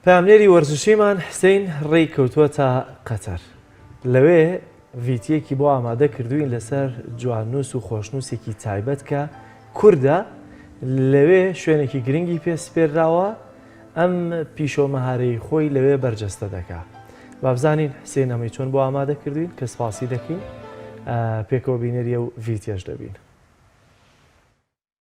پەیامنێری وەرزشیمان حسین ڕێی کەوتووەتە قەتەر لەوێ ڤیتیەکی بۆ ئامادە کردوین لەسەر جواننووس و خۆشنووسێکی تایبەت کە کووردە لەوێ شوێنێکی گرنگی پێ سپێراوە ئەم پیشۆ مەهارەی خۆی لەوێ بەرجەستە دەکا بابزانین حسێن ئەمەی چۆن بۆ ئامادە کردوین کە سپاسی دەکەین پێکەوە بینەریە و ڤیتێش دەبین.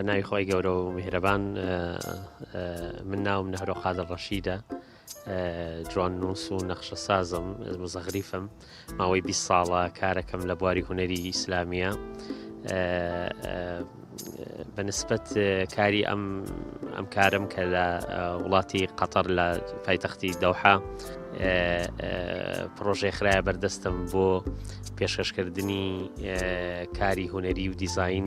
بەناوی خۆی گەورە و میهرەبان من ناوم نەهرۆ قادر ڕەشیدە جوان نووس و نەخشە سازم مزەغریفم ماوەی 20 ساڵە کارەکەم لە بواری هوەری ئیسلامیە بەنسبت کاری ئەم ئەم کارم کە لە وڵاتی قەتەر لە پایتەختی دەوحە پرۆژێ خراە بەردەستم بۆ پێشکەشکردنی کاری هوەری و دیزین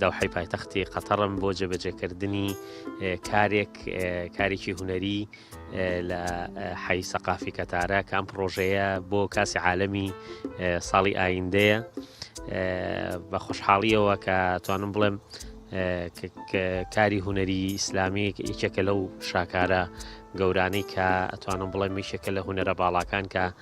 دەوحەی پایتەختی قەتەڕم بۆ جێبەجێکردنی کارێک کارێکی هوەری لە حەی سەقافی کەتارە کام پرۆژەیە بۆ کاسی عالەمی ساڵی ئایندەیە بە خۆشحاڵیەوە کە توانم بڵێم کاری هوەری ئیسلامی یەکێکە لەو شاکارە گەورانەی کە ئەتوانم بڵێ میشێکە لە هوەرە باڵاکان کە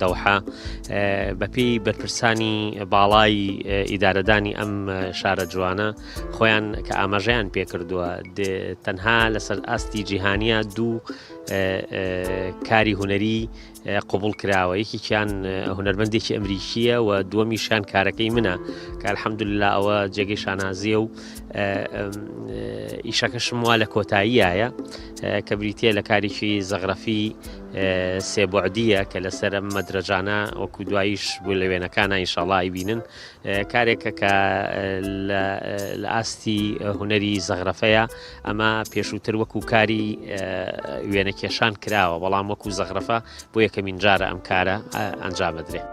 دەوحە، بەپێی بەرپرسانی باڵای ئیدارەدانی ئەم شارە جوانە خۆیان کە ئاماژەیان پێکردووە تەنها لەسەر ئاستی جیهانیە دوو کاری هوەری قوبول کراوە یەکێکیان هوەرمەندێکی ئەمریکیە و دووەمیشان کارەکەی منە کار حەمدللا ئەوە جێگەی شانازیە و ئیشەکەشم وا لە کۆتاییایە کە بریتە لە کارێکی زەغرەفی سێ بوعدییە کە لەسەر ئەم مەدرەجانە وەکو دواییش بوو لە وێنەکانە ئینشاڵا ئایبینن کارێکە کە لە ئاستی هوەری زەغرەفەیە ئەمە پێشووتر وەکو کاری وێنەکێشان کراوە بەڵام وەکو زەغرەفە بۆ یەکەمین جارە ئەم کارە ئەنجامەدرێت.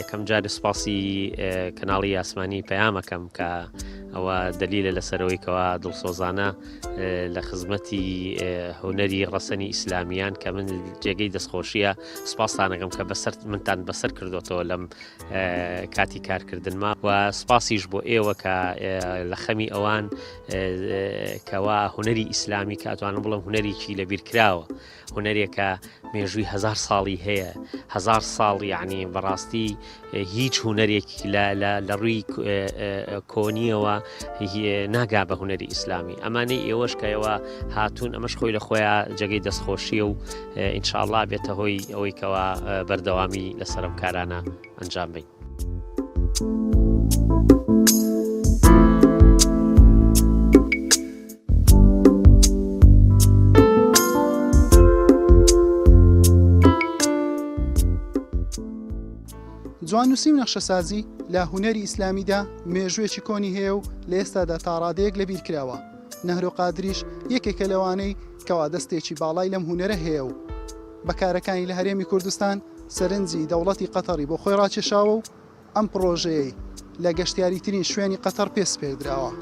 یەکەم جار سپاسی کەناڵی یاسمانی پەیامەکەم کە ئەوە دەلیلە لەسەرەوەی کەوا دڵسۆزانە لە خزمەتی هوەری ڕەسەنی ئیسلامیان کە من جێگەی دەستخۆشیە سپاسانەکەم کە بەسەر منتان بەسەر کردوەوە لەم کاتی کارکردنما و سپاسیش بۆ ئێوە کە لە خەمی ئەوان کەوا هوەری ئیسلامی کاتوانم بڵم هوەریی لە بیرکراوە هونەرێکە مێژووی هەزار ساڵی هەیە هەزار ساڵ یعنی بەڕاستی هیچ هونەرێک لە ڕووی کۆنیەوە ناگا بە هونەری ئیسلامی ئەمانەی ئێوەشکەوە هاتوون ئەمەش خۆی لە خۆیان جێگەی دەستخۆشیە و ئینشاءله بێتە هۆی ئەوەیکەوە بەردەوامی لەسەرم کارانە ئەنجام بین. جواننووسی و نەخشەسازی لە هوەری ئیسلامیدا مێژوێکی کۆنی هەیە و لە ئێستادا تاڕادەیەک لە بیرکراوە نەهرۆ قادریش یەکێکە لەوانەی کەوا دەستێکی باڵای لەم هوەرە هەیە و بەکارەکانی لە هەرێمی کوردستان سەرنجی دەوڵەتی قەتەڕی بۆ خۆی ڕاکێشاوە و ئەم پڕۆژەیەی لە گەشتیاریترین شوێنی قەتەڕ پێ سپێردراوە،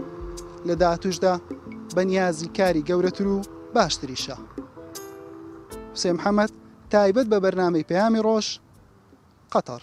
لە داهاتووشدا بە نیازی کاری گەورەتر و باشتریشە. حوسێن محەمەد، تایبەت بە بەرنامەی پەیامی ڕۆژ، قەتەڕ.